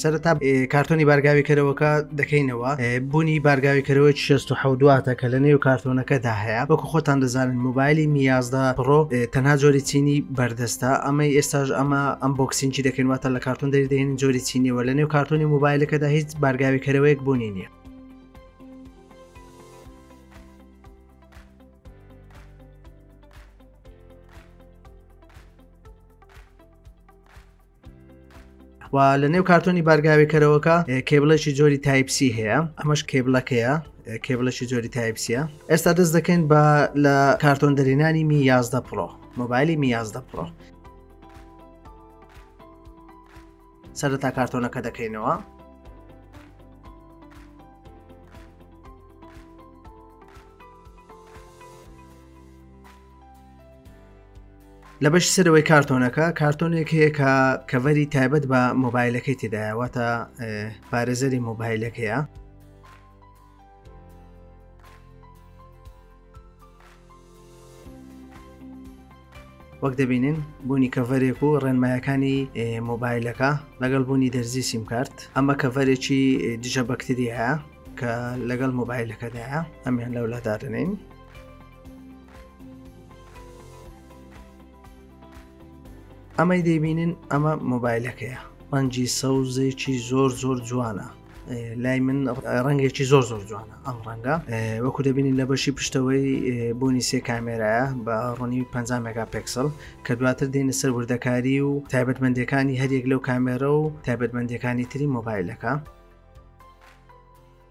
سەرەتا کارتۆنی بارگاویکەرەوەکە دەکەینەوە بوونی بارگاویکەرەوەی 16 دواتە کە لە نێو کارتۆنەکەدا هەیە وەکو خۆتان دەزانن موبایلی میازدا پڕۆ تەنها جۆری چینی بەردەستە ئەمەی ئێستاش ئەمە ئەم بۆکسینجی دەکەین واتە لە کارتۆن دەریدەین جۆری چینیەوە لە نێو کارتۆنی موبایلەکەدا هیچ بارگاویکەرەوەیەک بوونی نییە و لە نێو کارتۆنی بارگاوێکەرەوەکە کێبلێکی جۆری تایپسی هەیە ئەمەش کێبلەکەیە کێبلێکی جۆری تایپسیە ئێستا دەست دەکەین بە لە کارتۆن دەرێنانی می 11 پرۆ مۆبایلی می 11 پرۆ سەرەتا کارتۆنەکە دەکەینەوە لە بەش سەرەوەی کارتۆنەکە کارتۆنێک هەیە کە کەڤەری تایبەت بە مۆبایلەکەی تێدایەوەتە پارێزەری مۆبایلەکەیە وەک دەبینین بوونی کەڤەرێک و ڕێنمایەکانی مۆبایلەکە لەگەڵ بوونی دەرزی سیمکارت ئەمە کەڤەرێکی دژە بەکتریایە کە لەگەڵ مۆبایلەکەدایە ئەمیان لەولادادنین ئەمەی دەیبینین ئەمە مۆبایلەکەیە ڕەنجی سەوزێکی زۆر زۆر جوانە لای من ڕەنگێکی زۆر زۆر جوانە ئەم ڕەنگە وەکو دەبینین لە بەشی پشتەوەی بوونی سێ کامێرایە بە ڕوونی 50 مگا پکسل کە دواتر دێنە سەر وردەکاری و تایبەتمەندەکانی هەریەک لەو کامێرە و تایبەتمەندەکانی تری مۆبایلەکە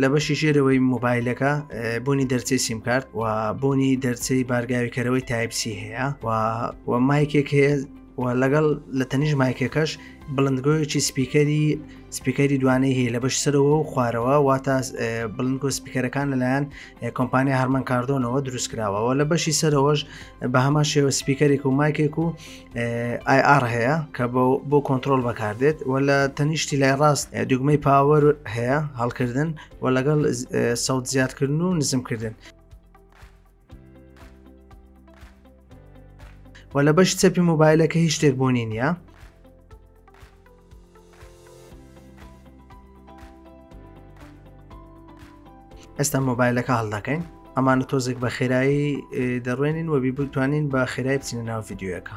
لە بەشی ژێرەوەی مۆبایلەکە بۆنی دەرچەی سیمکارت و بۆنی دەرچەی بارگاویکەرەوەی تایپسی هەیە و مایکێک هەیە و لەگەڵ لە تەنیش مایکەکەش بڵندگۆیەکی سپیکەری سپیکەری دوانەی هەیە لە بەش سەرەوە و خوارەوە واتە بڵنکۆ سپیکەرەکان لەلایەن کۆمپانیا هەرمان کاردۆنەوە دروست کراوەوە لە بەشی سەرەوەش بە هەما شێوە سپیکەرێک و مایکێک و ئایR هەیە کە بۆ کۆنتترۆل بەکاردێت و لە تەنیشتی لای ڕاست دوگمەی پاوەر هەیە هەڵکردن و لەگەڵ سەوت زیادکردن و نزمکردن و لە بەش چەپی مۆبایلەکە هیچ شتێک بۆنی نییە ئێستا مۆبایلەکە هەڵدەکەین ئەمانە تۆزێک بە خێرایی دەڕوێنین و بی بتوانین بە خێرای بچینە ناو یددیوەکە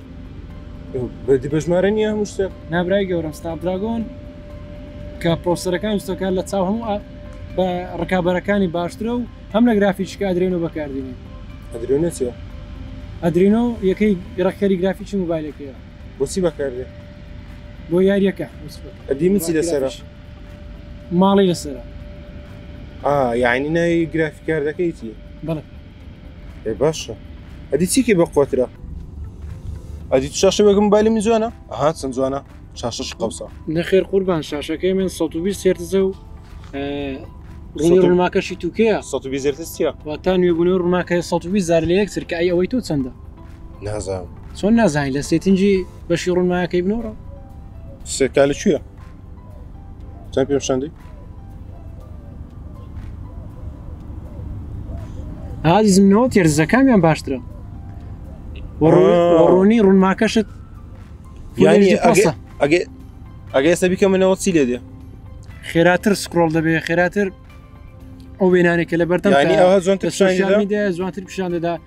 بەدی بەژمارە نییە هەموو شتێک نابرای گەورم ستار دراگۆن کە پرۆسەرەکان وستەکان لە چاو هەموو بە ڕکابەرەکانی باشترە و هەم لە گرافیشکە ئەدرێن و بەکاردێنێ ئەدرێنە چێ ئەدرینۆ یەکەی گرەکتەری گرافیکی موبایلەکەیە بۆچی بەکاردێ بۆ یاریەکە ئەدیمچی لەسەر ماڵی لەسەر یعنی ناوی گرافیکاردەکەیتی بڵێ ئێ باشە ئەدی چیکی بە قوترە ئەدی شاشە وەگم بالی من جوانە ئەها چەند جوانە شاشەش قەوسە نەخێر قوربان شاشەکەی من 120 سێرتزە و ڕوونی ڕوونماکەشی توکەیە 120 زرتستە واتا نوێبوونە ڕووناکە 120 زار لە یەک سرکە ئەی ئەوەی تۆ چەندە نازان چۆن نازانین لە سێتنجی بەشی ڕوونماکەی بنۆڕە سێکالە کوێە چەند پێ شەندی ئازیزم نەوە تێرزەکانیان باشترە ڕوونی ڕوونماکەشت ئەگەی ئەگەی ئێستا بیکە منەوە چی لێ دێ خێراتر سکرۆڵ دەبێ خێراتر ئەو وێنانێکە لە بەردەم زۆنتر پیشان دەدا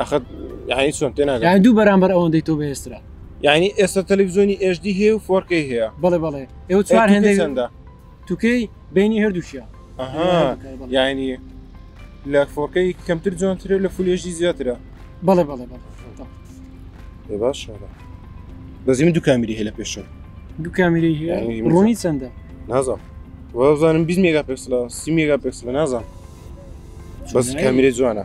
ئەخەت یعنی چۆن تێ ناگەم یعنی دوو بەرامبەر ئەوەندەی تۆ بەهێسترا یعنی ئێستا تەلەڤزیۆنی HD هەیە و فۆرکەی هەیە بەڵێ بەڵێ ئێوە چوار هێندەی چەندە توکەی بینی هەردووشیە یعنی لە فۆرکەی کەمتر جوانترە لە فولێژی زیاترە بەڵێ بەڵێ بەڵێ باش بەزی من دوو کامیری هەیە لە پێشە دوو کامیری هەیە ڕۆنی چەندە نازم وەزانم 20 مێگا پێکسلە سی مێگا پێکسلە نازم بەس کامیری جوانە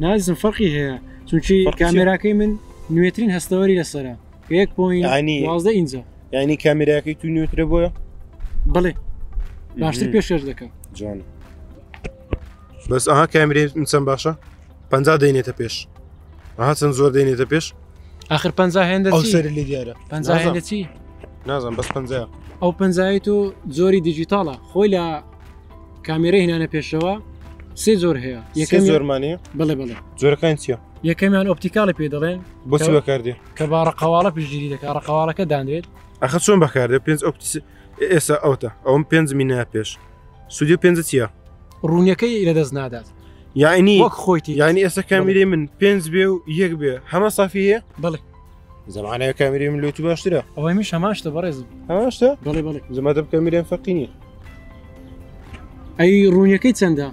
نازم فەرقی هەیە چونکی کامێراکەی من نوێترین هەستەوەری لەسرە یەک پۆینانی وازدە ئینجا ینی کامێراکەی تو نوێترە بۆە بڵێ باشتر پێشێش دەکەم جوان بەس ئەها کامرێ چەند باشە پ دەینێتە پێش ئەها چەند زۆر دەینێتە پێش آخر پ هێندە سەر لە دیارە پ هێندە چی نازم بەس پ ئەو پنجایی تو زۆری دیجیتاڵە خۆی لە کامێرە هێنانە پێشەوە سێ زۆر هەیە یەکە زۆرمانی بڵێ بڵێ زۆرەکان چیە یەکەمیان ئۆپتیکاڵی پێ دەڵێن بۆچی بەکاردێ کە با ڕقەواڵە پشگیری دەکە ڕقەواڵەکە دانرێت ئەخە چۆن بەکاردێ پێنج ئۆپتیس ئێستا ئەوتە ئەوم پێنج مینە پێش سودی پێنج چیە ڕوونیەکەی لە دەست نادات یعنی وەک خۆیتی یعنی ئێستا کامیری من پێنج بێ و یەک بێ هەمە سافیە بڵێ زمانەکە میریم لوت باشترە ئەوەی میش هەماشتە بەڕێز هەماشتە بەڵێ بەڵێ زمەدە بکە میرێن فەقینی ئەی ڕوونیەکەی چەندە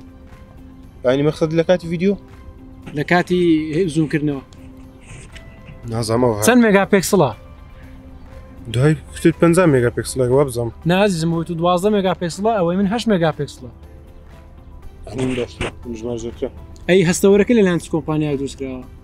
ینی مەخصد لە کاتی ویددیو لە کاتی زووکردنەوە نازەمەوە چەند مێگا پێکسڵە دوای کوتت 50 مێگا پێکسڵە وا بزەم نازم و تو دوازە مێگا پێکسڵە ئەوەی من هەش مێگا پێکسڵە ئەی هەستەوەرەکە لە لاند کۆمپانیا دروستکراوە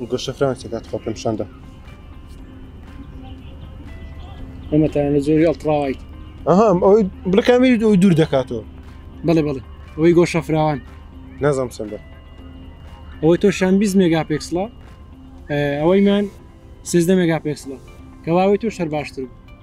و گەشە فرانک تێکات خۆ پێم شەندە ئەمە تا لە زۆری ئەڵتراوایت ئەهام ئەوەی بڵکامیری ئەوی دوور دەکاتەوە بڵێ بڵێ ئەوەی گۆشە فراوان نازم سندە ئەوەی تۆ شان 20 مێگا پێکسڵە ئەوەی من سێزدە مێگا پێکسڵە کەواوەی تۆ شەر باشتر بوو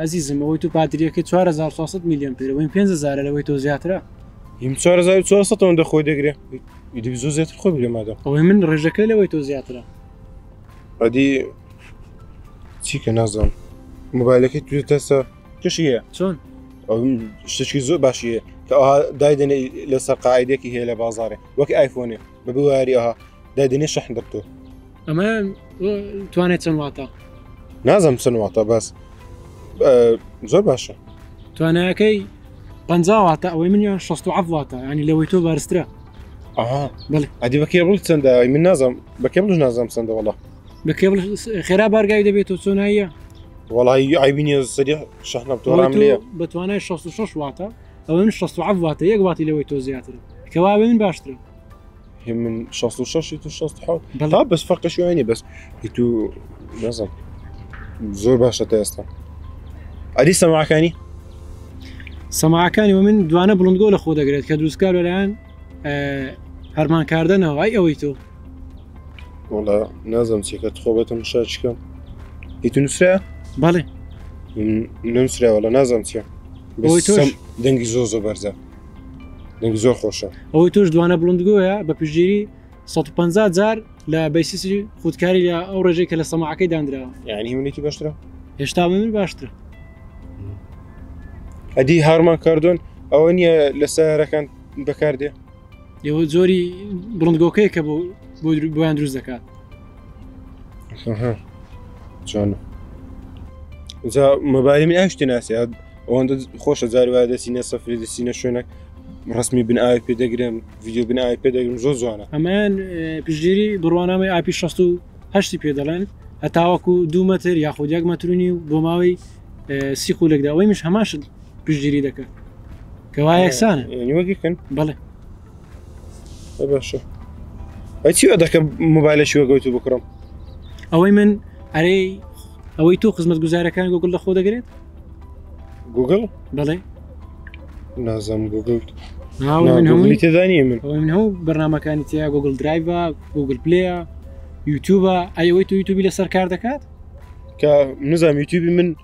ئەزیزم ئەوەی تو پاتریەکە 4400 میلیۆن پێ بووین 500 لەوەی تۆ زیاترە هیم 4400 دەخۆی دەگرێ ئیدی زۆ زیاتر خۆی بگرێ مادە ئەوەی من ڕێژەکە لەوەی تۆ زیاترە ئەدی چیکە نازم موبایلەکەی تو تەسە کشی هەیە چۆن شتێکی زۆر باشیە کە دایدەێ لەسەر قاعدێکی هەیە لە بازارێ وەک ئایفۆنێ ببواریەها دەدنی شەحن دەکتۆ ئەمە توانێت چەند واتە نازم چەند واتە بەس زۆر باشە توانایەکەی پ واتە ئەوەی من یان 16 واتە ینی لەوەی تۆ بارسترە ئەدی بەکێ بڵ چەندە من نازم بەکێ بڵش نازم چەندە وڵە بەکێ خێرا بارگای دەبێت تۆ چۆناییە وڵی ئایبینە سەری شەحنە بتۆڕام لێ بەتوانای 16 واتە ئەوە من شەست عەف واتە یەک واتی لەوەی تۆ زیاترم کەواێ من باشترم من 66 تو 16 بەڵا بەس فەرقە شوێنی بەس تو نازم زۆر باشە تا ئێستا ئەری سەماکانی سەماکانی و من دوانە بڵندگۆ لە خۆ دەگرێت کە دروستکار لەلایەن هەرمانکاردنەوە ئای ئەوەی تۆ وڵا نازم چێکە خۆ بەتم شاچکەم هیتو نووسرا بەڵێ نووسراوە لە نازم چیە دەنگی زۆ زۆ بەرزە دەنگی زۆر خۆشە ئەوەی تۆش دوانە بڵندگۆیە بە پژێری 150 جار لە بەیسیسری خودکاری لە ئەو ڕێژەی کە لە سەماعەکەی دانراوە یعنی منێکی باشترە هێشتا من باشترە ئەدی هارمان کاردۆن ئەوە نییە لە سارەکان بەکاردێ ئێوە زۆری بڵندگۆکەیە کە بۆ بۆیان دروست دەکات چۆن جا مەباری من ئاشتی ناسی ئەوەندە خۆشە جاری وایە دەسینە سەفری دەسینە شوێنە ڕسمی بن ئاوی پێ دەگرم ویددیو بن ئاوی پێ دەگرم زۆر جوانە ئەمان پشگیری بڕوانامەی ئاپی 16 پێ دەڵێن هەتاوەکو دو مەتر یاخود یەک مەترونی و بۆ ماوەی سی خولێکدا ئەوەی مش هەماش پشگیری دەکات کەوا یەکسانە وەگیکن بڵێ باشە ئەی چی دەکەم موبایلەشی وەگەوتو بکڕم ئەوەی من ئەرێ ئەوەی تۆ خزمەت گوزارەکان گوگل لە خۆ دەگرێت گوگل بڵێ نازم گوگل هەمووی تێدانی من من هەوو بەرنمەکانی تیا گوگل درایڤە گوگل پلەیە یوتوبە ئەیەوەی تو یوتوبی لەسەر کار دەکات کە نزانام یوتوبی من